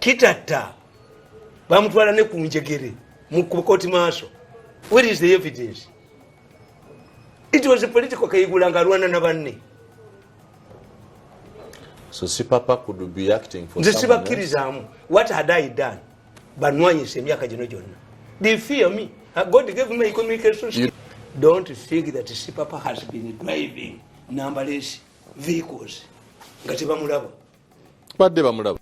Kitatta bamutwala ne ku njegere mu kooti maaso. Where is the evidence? It was a political kayigula nga alwana na banne. So si papa could be acting for someone else? Nze sibakkirizamu. What had I done? Banwanyisa emyaka gino gyonna. They fear me. Uh, God gave me communication skills. Don't think that Sipapa has been driving numberless vehicles. Ngati bamulaba. Badde bamulaba.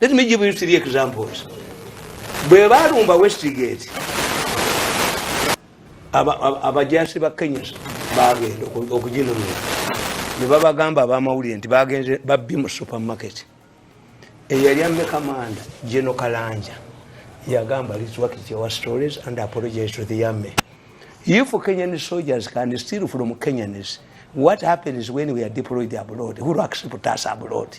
Let me give you three examples. Bwe baalumba Westgate, abajaasi ba Kenya baagenda okuginunula ne babagamba abamawulire nti bagenze babbi mu supermarket. Eyali amme kamanda Geno Kalanja yagamba let's work it our stories and apologize to the army. If Kenyan soldiers can steal from Kenyans, what happens when we are deployed abroad? Who accepts us abroad?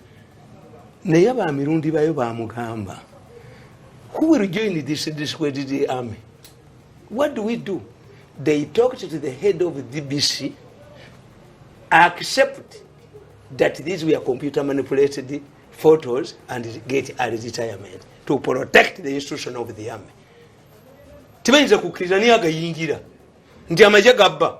naye ba mirundi bayo bamugamba who will join this discredited army what do we do they talked to the head of dbc accept that these were computer manipulated photos and get a retirement to protect the institution of the army tibayinza kukkiriza naye agayingira nti amaje gabba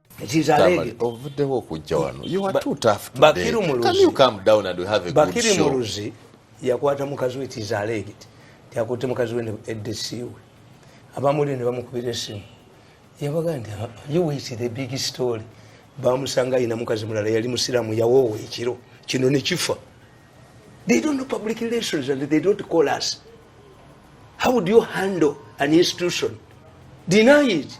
ovuddewo okujja wano bakiri muluzi yakwata mukazi we tizalegit yakutte mukazi we edesiwe abamuli ne bamukubira esimu yabaga nti ah, you wait the big story bamusanga ayina mukazi mulala yali musiramu yawoowa ekiro kino nekifa they don't know public relations and they don't call us how do you handle an institution deny it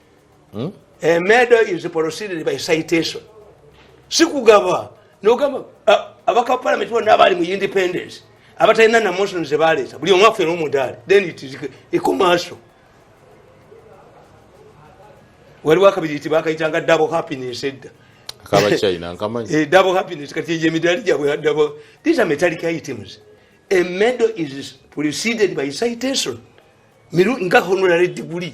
Hmm? A murder is proceeded by citation. Sikugaba. Nogamba abaka parliament bona abali mu independence. Abatalina na motions ze baleta. Buli omu afera omudali. Then it is a commercial. Waliwo akabiri nti bakayitanga double happiness edda. Akaba China nkamanyi. Eh double happiness kati ye midali gyabwe double. These are metallic items. A medal is preceded by citation. Miru nga honorary degree.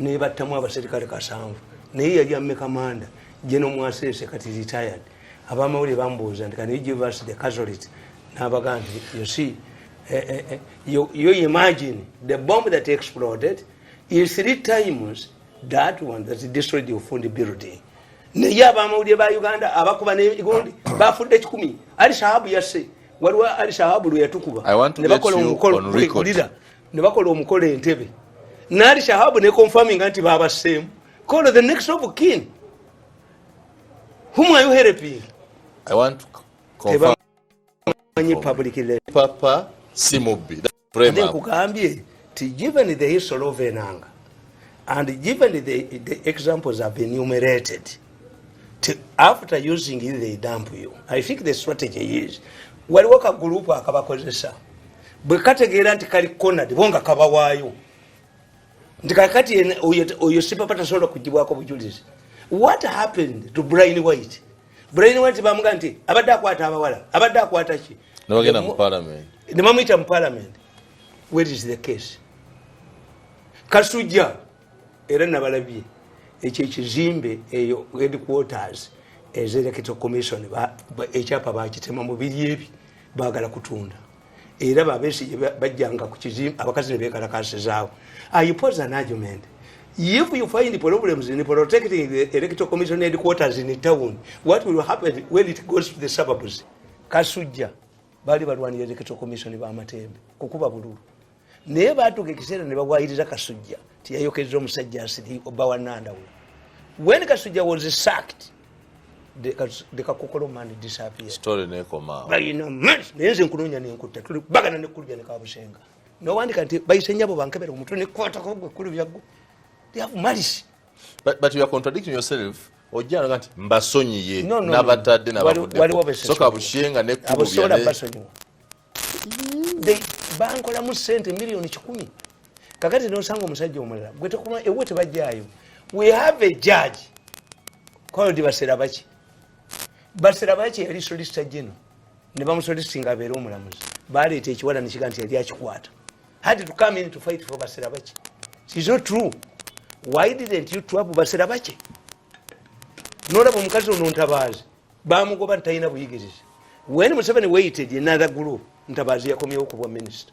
nebattamu abaserikale kasanvu naye yali ameka manda jeno mwasese kati retired abamawulire bambuuza nti kani ugivers the casolit nabaga nti you see eh, eh, eh, you, you imagine the bomb that exploded is three times that one that destroyed your fund building naye abamawulire ba uganda abakuba negundi bafudde kikumi ali shahabu yasse waliwo ali shahabu lweyatukuba nebakola omukolo ne bakola omukolo entebe naali shahabu ne confirminga nti babasseemu call the next of kin whom are you helping i want to confirm manyi public le papa si mubbi then kugambye ti given the history of enanga and given the, the examples have been enumerated to, after using it they dump you i think the strategy is waliwo ka group akabakozesa bwe kategeera nti kali conad bo nga kabawaayo nti kakati oyo sipapa tasobola kugibwako bujulizi what happened to brian white brian white bamuga nti abadde akwata abawala abadde akwata ki nebamuyita mu palamenti where is the case kasujja era nabalabye ekyo ekizimbe eyo headquarters ezerekito commission ekyapa bakitema mu biri ebi bagala kutunda era babesi bajjanga ku kizimbe abakazi ne bekalakasizaawo i pose an argument if you find problems in protecting the electoral commission headquarters in town what will happen when it goes to the suburbs kasujja bali balwanira electoral commission bamatembe kukuba bululu naye baatuuka ekiseera ne bawayiriza kasujja tiyayokezza omusajja nsiri oba wanandawula when kasujja was sacked the kakokolo man disappear story nekoma bayina man naye nze nkunonya nenkutta tuli bagana nekulubya ne kabusenga nowandika nti bayise nyabo bankebera omutwe nekwata kogwe kulubya gwo they have malice but, but you are contradicting yourself ojjanga nti mbasonyiye nabatadde nabavuddesoka bushenga nekulubya mm. bankolamu sente miliyoni kikumi kakati nosanga omusajja omulala gwetokuma ewe tebajjayo we have a judge called baserabaki baserabaki yali solisita gino ne bamusolisinga abeere omulamuzi baleeta ekiwala nekiga nti yali akikwata had to come in to fight for baserabaki is not true why didn't you twab baserabaki nolaba omukazi ono ntabaazi bamugoba nti talina buyigirizi wen museveni waited another group ntabaazi yakomyewo kubwa minisita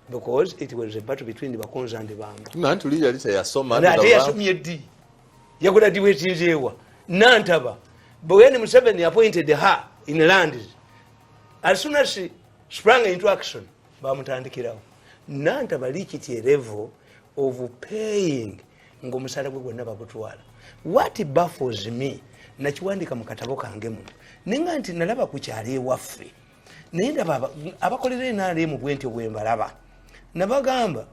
because it was a battle between bakonza and bambaate yasomye ddi yakola ddi wekinzeewa nantaba wen museveni appointed her in land as soon as she sprang into action bamutandikirawo nantaba likityerevo of paying ngaomusala gwe gwonna bagutwala wat baffles me nakiwandika mu katabo kange muno naye nga nti nalaba ku kyalo ewaffe naye ndaba abakolera enaremu bwentyo bwembalaba nabagamba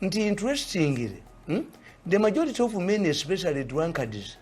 nti interestingly hmm, the majority of men especially drunkards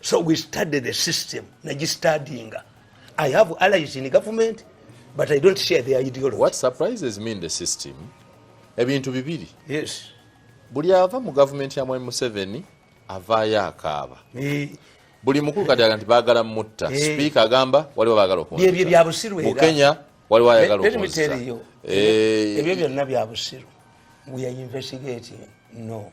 so we study the system najistadinga i have allies in government but i don't share their ideology what surprises me in the system ebintu bibiri yes buli ava mu gavumenti ya mwami museveni avaayo akaaba buli mukulu kati aga nti baagala mutta sipiika agamba waliwo baagala okumukenya waliwo ayagala okuebyo byonna byabusiru weare investigating no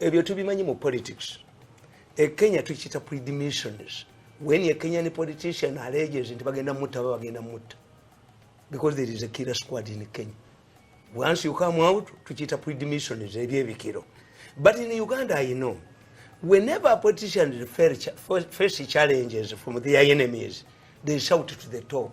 ebyo tubimanyi mu politics ekenya tukiyita predimissions when a kenyan politician alleges nti bagenda mutta ba bagenda mutta because there is a killer squad in kenya once you come out tukiyita predimissions ebyebikiro but in uganda i know whenever politicians face challenges from their enemies they shout to the top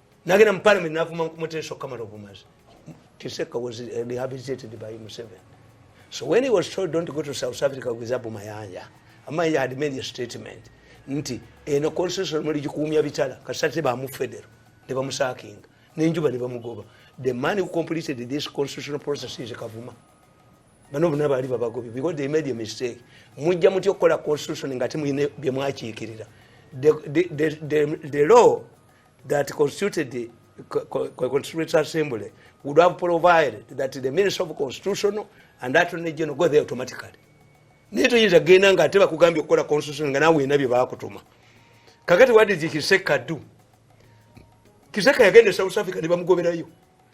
nagenda mu parliament navuma mukumuteesa okukamala obumazi kiseka was eh, rehabilitated by museven so when he was told don't go to south africa with abu mayanja amayanja had made a statement nti eno eh, constitution muli gikuumya bitala kasate bamu federo ne bamusakinga nenjuba ne bamugoba the man who completed this constitutional process is kavuma bano bona baali babagobi because they made a mistake mujja muti okukola constitution nga temuyina byemwakiikirira the, the, the, the, the law that constituted the Constituent Assembly would have provided that the Minister of Constitution and Attorney General go there automatically. Naye toyinza genda nga ate bakugambye okukola constitution nga nawe ena bye baakutuma. Kakati what did Kiseka do? Kiseka yagenda e South Africa ne bamugoberayo.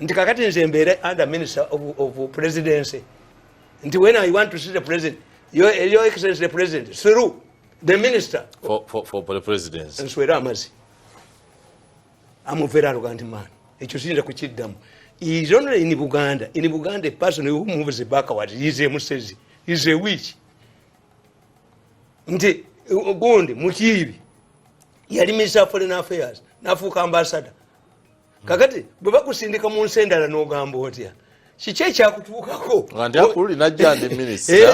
nti kakati nze mbeere under minister of, of presidency nti when i want to see the president your, your excellence the president through the minister for, for, for the presidency nswera amazi amuvera aluga nti man ekyo siyinza kukiddamu is only in buganda in buganda a person who moves backward is a musezi is a witch nti gundi mutiibi yali minister of foreign affairs nafuuka ambassador kakati bwe bakusindika mu nsi endala n'ogamba otya kiki ekyakutuukako nga ndi akulu linajja ndi minisita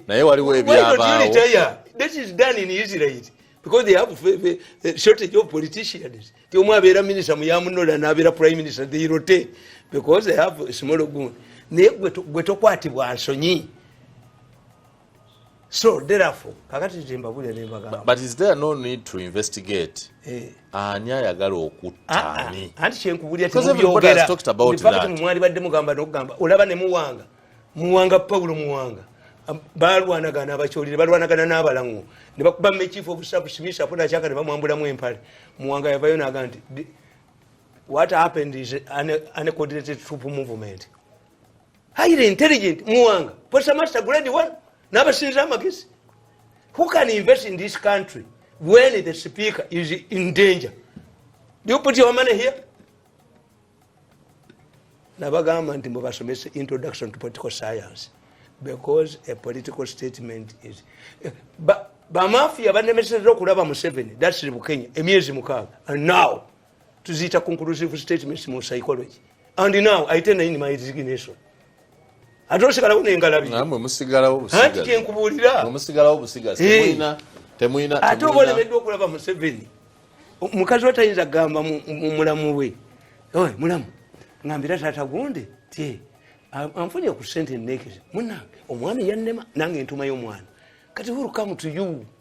naye waliwo ebyabaawo that is done in israel because they have a shortage of politicians ti omu abeera minisita muyamunola nabeera prime minister they rotate because they have a small gun naye gwe tokwatibwa nsonyi so therefore kakati tembabulira nembagamba but is there no need to investigate eh. ani ayagala okuttaani ah, ah. anti kyenkubulira temwali badde mugamba nokugamba olaba ne muwanga muwanga paulo muwanga balwanagana abakyolire balwanagana n'abalaŋo ne bakuba mekiifu obusabusimisa apo nakyaka ne bamwambulamu empale muwanga yavayo naga nti what happened is an, an coordinated troop movement highly intelligent muwanga posa master grade one nabasinza amagezi who can invest in this country when the speaker is in danger do you put your money here nabagamba nti mubasomese introduction to political science because a political statement is eh, bamafia banemeseza okulaba museveni dasiri bukenya emyezi mukaaga and now tuziyita conclusive statements mu psychology and now i tend in my resignation ate osigalawo nengalabiamwe musigalawo busigazi kyenkubuulira musigalawo busigazi temuyina temuyina ate oba olemeddwa okulaba museveni mukazi we tayinza kugamba mumulamu we oy mulamu ngambira taata gunde ti anfunye ku sente enekeza munange omwami yannema nange entumayo omwana kati hurukamu to you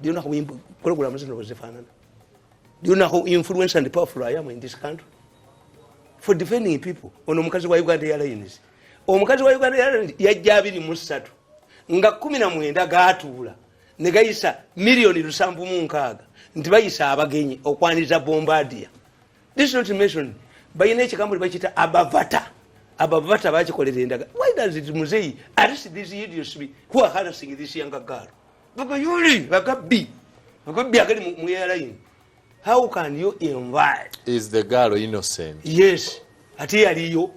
Do you know how imp- programs zino bwezifaanana? Do you know how influence and powerful I am in this country? For defending people. Ono omukazi wa Uganda Airlines. Omukazi wa Uganda Airlines yajja abiri mu ssatu nga kumi na mwenda gaatuula ne gayisa miliyoni lusanvu mu nkaaga nti bayisa abagenyi okwaniza bombardier. This is not mentioned. Balina ekigambo lye bakiyita abavata. Abavata bakikolera endaga. Why does it muzeyi arrest these idiots who are harassing this younger girl? bagayuli bagabbi bagabbi agali mu airline how can you invite is the girl innocent yes ate yaliyo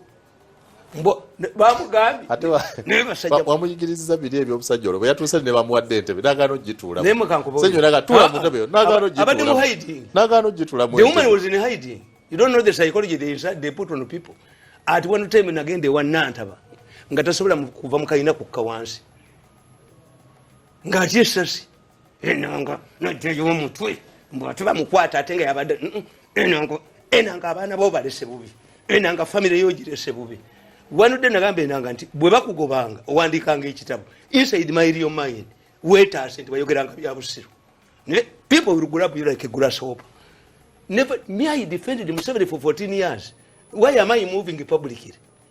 bamuyigiriza biri ebyomusajja olwo bweyatuuse ne bamuwadde entebe nagaana ogitulasenyonagatulamunagaana ogitulamuati one time nagenda ewa nantaba nga tasobola kuva mukalina kukka wansi ng'atya essasi enanga najjayo omutwe mbu ate bamukwata ate nga yabadde enanga enanga abaana bo balese bubi enanga famire yo girese bubi wanudde nagamba enanga nti bwe bakugobanga owandiikanga ekitabo inside my real mind wetaase nti bayogeranga bya busiru naye people will grab you like a grasshopper never me i defended museveni for 14 years why am i moving publicly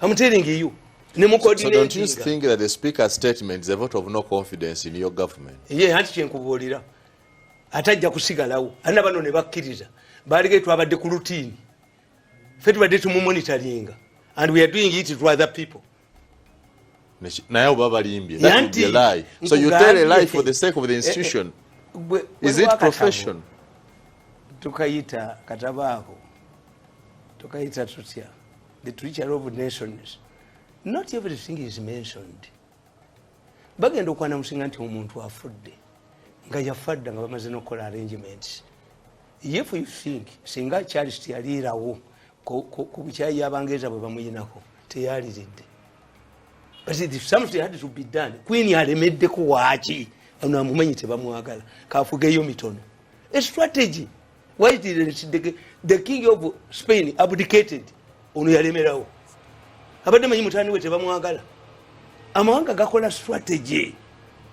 I'm telling you. Ne mu coordinating. So don't you think that the speaker's statement is a vote of no confidence in your government? Ye hanti kyenkubuulira. Atajja kusigalawo. Anna bano ne bakkiriza. Baalige twabadde ku routine. Ffe tubadde tumumumonitaringa. And we are doing it to other people. naye oba balimbye so you tell a lie for the sake of the eh, eh, institution is it profession tukayita katabaako tukayita tutya the treacher of nations not everything is mentioned bagenda okwana musinga nti omuntu afudde nga yafadda nga bamaze nokukola arrangements if you think singa charles yaliirawo ku bukyayi abangereza bwe bamuyinako teyaliridde kwini alemeddeko waaki ono amumanyi tebamwagala kafugeyo mitono estrategy the king of spain abdicated ono yalemerawo abadde manyi mutani we tebamwagala amawanga gakola strategy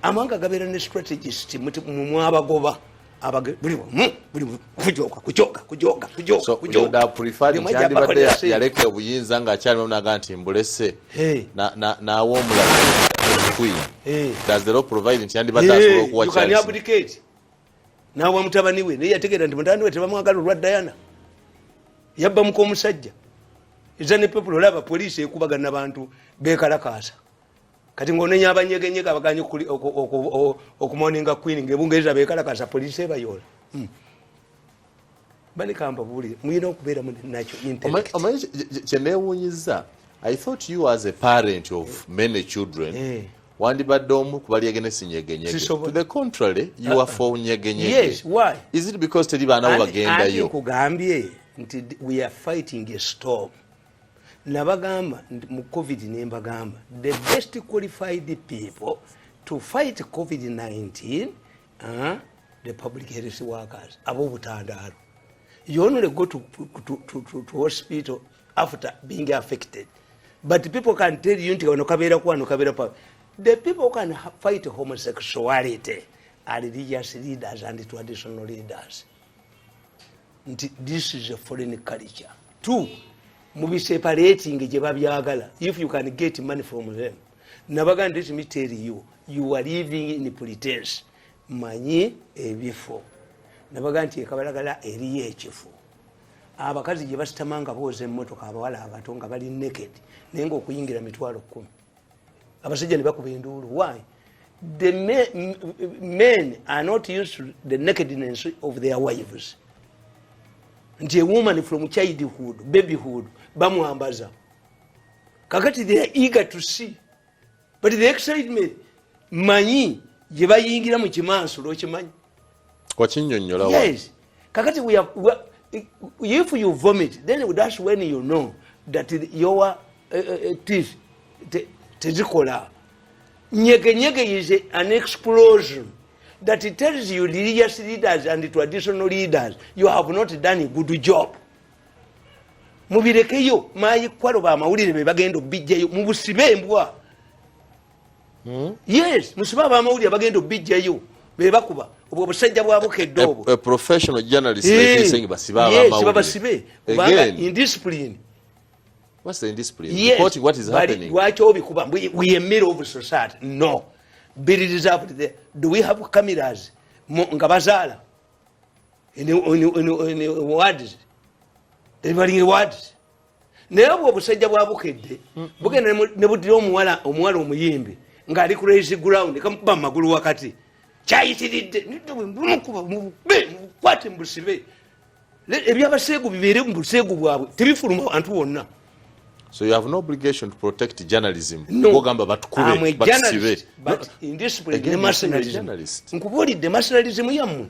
amawanga gabeera ne strategist mumwabagoba abage buli bumu buli bumu kujoka kujoka kujoka kujoka so kujoka da prefer ndi ndi bade ya leke obuyinza nga akyali mwana ganti mbulese hey. na na na wo mula queen hey. does the law provide ndi ndi bade hey. asobola kuwa chance you can abdicate na wa mutabani we naye ategera ndi mutani we tebamwagala olwa Diana yabba muko musajja ezane people olaba police ekubagana bantu bekalakaasa kati ngaonenya abanyegenyega abaganye okumoninga queen ngebungereza bekalakasa polisi ebayola hmm. banikamba buli muyina okubeera munakyo omanyi kyenewunyiza i thought you as a parent of eh. many children eh. wandibadde omu kubalyegene sinyegenyege to the contrary you are uh-uh. for nyegenyege yes why is it because teri baana bo bagendayo kugambye nti we are fighting a storm nabagamba mu covid nembagamba the best qualified people to fight covid-19 uh, the public health workers abobutandaalo you only go to, to, to, to, to hospital after being affected but people can tell you nti kano kabeera kwano kabeera pa the people can fight homosexuality are religious leaders and traditional leaders nti this is a foreign culture two mubiseparating gye babyagala if you can get money from them nabaga nti me tell you you are living in pretense manyi ebifo nabaga nti ekabalagala eriyo ekifo abakazi gye basitamanga booza emmotoka abawala abato nga bali naked naye ngaokuyingira mitwalo kkumi abasajja nebakuba enduulu why the men, men are not used to the nakedness of their wives nti a woman from childhood babyhood bamwambaza kakati they are eager to see but the excitement manyi gye bayingira mu kimansulo okimanyi wakinyonyola yes kakati we are, we are, if you vomit then that's when you know that your uh, uh, teeth tezikola nyege nyege is an explosion that it tells you religious leaders and traditional leaders you have not done a good job mubirekeyo mayikwalo bamawulire bebagenda obijjayo mubusibe embwa Hmm? yes musiba abamawulire bagenda obijjayo bebakuba obwo obusajja bwa bukedde obwo lwaki obikuba weyemere of society no do we have cameras nga bazaala words ebalinga words naye obwo obusajja bwa bukedde bugenda ne budira omuwala omuwala omuyimbi ng'ali ku raise ground kamukuba mu magulu wakati kyayitiridde bumukuba mubube mubukwate mubusibe ebyabaseegu bibeere mu buseegu bwabwe tebifuluma abantu bonna So you have no obligation to protect journalism. No. Ogamba batukube. I'm a journalist, but in this way, the mercenarism. Nkubulidde mercenarism yammwe.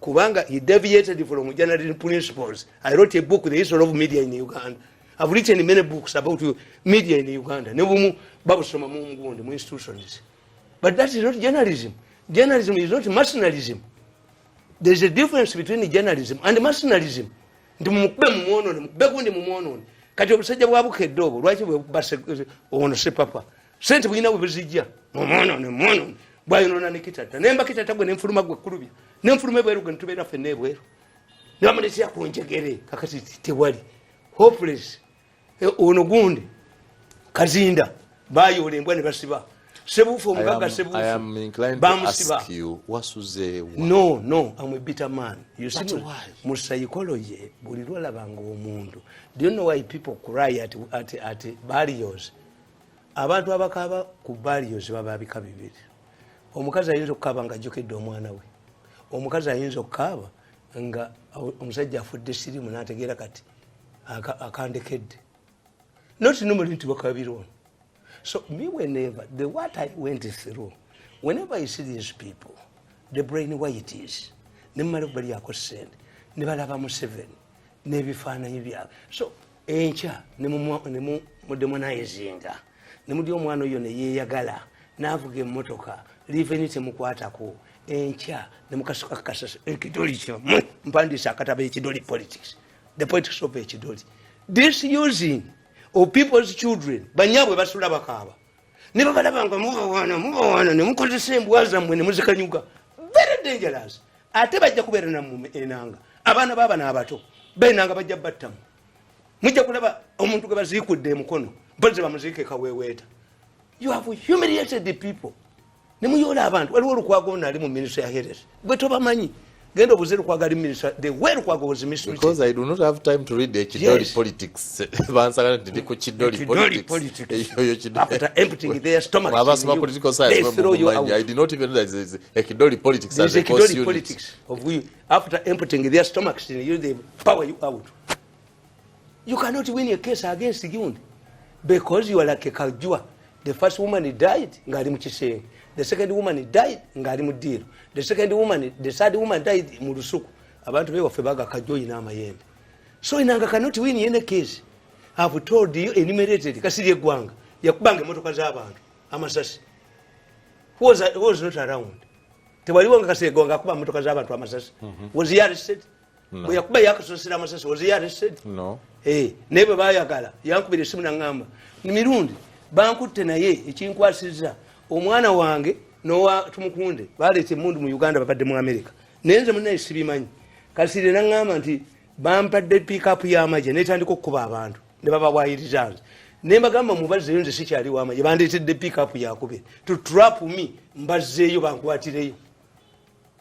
kubanga he deviated from general principles i wrote a book the history of media in uganda i've written many books about media in uganda nebumu babusoma mu mugundi mu institutions but that is not journalism journalism is not mercenarism there is a difference between journalism and mercenarism nti mumukube mumwonone mukube gundi mumwonone kati obusajja bwa bukedde obwo lwaki bwebubase ono sepapa sente bulina we buzijja omwonoone mwonoone bwayonoona ne kitata naye mba kitata gwe nenfuluma gwe kulubya nenfuluma ebweru gwe netubeera fenna ebweru nebamuletea ku njegere kakati tewali hopeless eh, ono gundi kazinda bayoola embwa ne basiba sebuufu omugaga sebuufubamusibano no amwebita man mu psychology buli lwolabanga omuntu do you know why people cry at, at, at barriers abantu abakaaba ku barrios baba bika bibiri omukazi ayinza okukaaba nga ajjukidde omwana we omukazi ayinza okukaaba nga omusajja afudde sirimu nategeera kati akandekedde not nomuli nti bakabira ono so me whenever the what i went through whenever i see these people the brain whites nemumala okubalyako sente nebalaba museveni nebifaananyi byabwe so enkya nemuddemu nayezinga nemudi omwana oyo neyeyagala navuga emotoka liveni temukwatako enkya nemukasuka kasasa ekidoli kyamu mpandiisa akataba ekidoli politics the politics of ekidoli this using of people's children banyabwe basula bakaaba ne babalaba nga mubawaana mubawaana ne mukozesa embwa zammwe ne muzikanyuga very dangerous ate bajja kubeera nammwe enanga abaana baabana abato benanga bajja battamu mujja kulaba omuntu gwe baziikudde emukono boze bamuziika ekaweeweeta you have humiliated the people nemuyoola abantu waliwo olukwago nali mu minisita ya herer gwe tobamanyi genda obuze lukwago ali minisita the way lukwago was minisitabeause i do not have time to read ekidoli yes. politics bansagala nti ndi ku kidoli politicsabasoma political sciencemanyi i did not even realize ekidoli politics as a course unit after emptying their stomachs in you the power you out You cannot win a case against Gundi because you are like a Kajua. The first woman died ngali mu kisenge. The second woman died ngali mu deal. The second woman, the third woman died mu lusuku. Abantu be wafe baga Kajua ina amayembe. So inanga cannot win any case. I have told you enumerated kasiri egwanga yakubanga emotoka z'abantu amasasi. Who was, who was not around? Tewaliwo nga kasiri egwanga akuba emotoka z'abantu amasasi. Mm -hmm. Was he arrested? bwe yakuba yakasosera amasasi was he arrested no eh naye bwe bayagala yankubira esimu nangamba ni mirundi bankutte naye ekinkwasiza omwana wange nowa tumukunde baleeta emundu mu uganda babadde mu america naye nze munaye sibimanyi kasire nangamba nti bampadde pikapu yamagye netandika okukuba abantu ne babawayiriza nze naye mbagamba mubazzeyo nze sikyali wamagye bandeetedde pikapu yakube to trap me mbazzeeyo bankwatireyo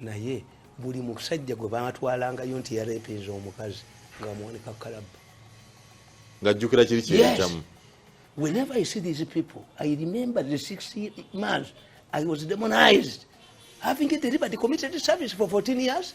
naye buli musajja gwe batwalangayo nti yarepinza omukazi nga amuwanika kalabba ngajjukira kiri kiyitamu whenever i see these people i remember the six months i was demonized having delivered committed service for 14 years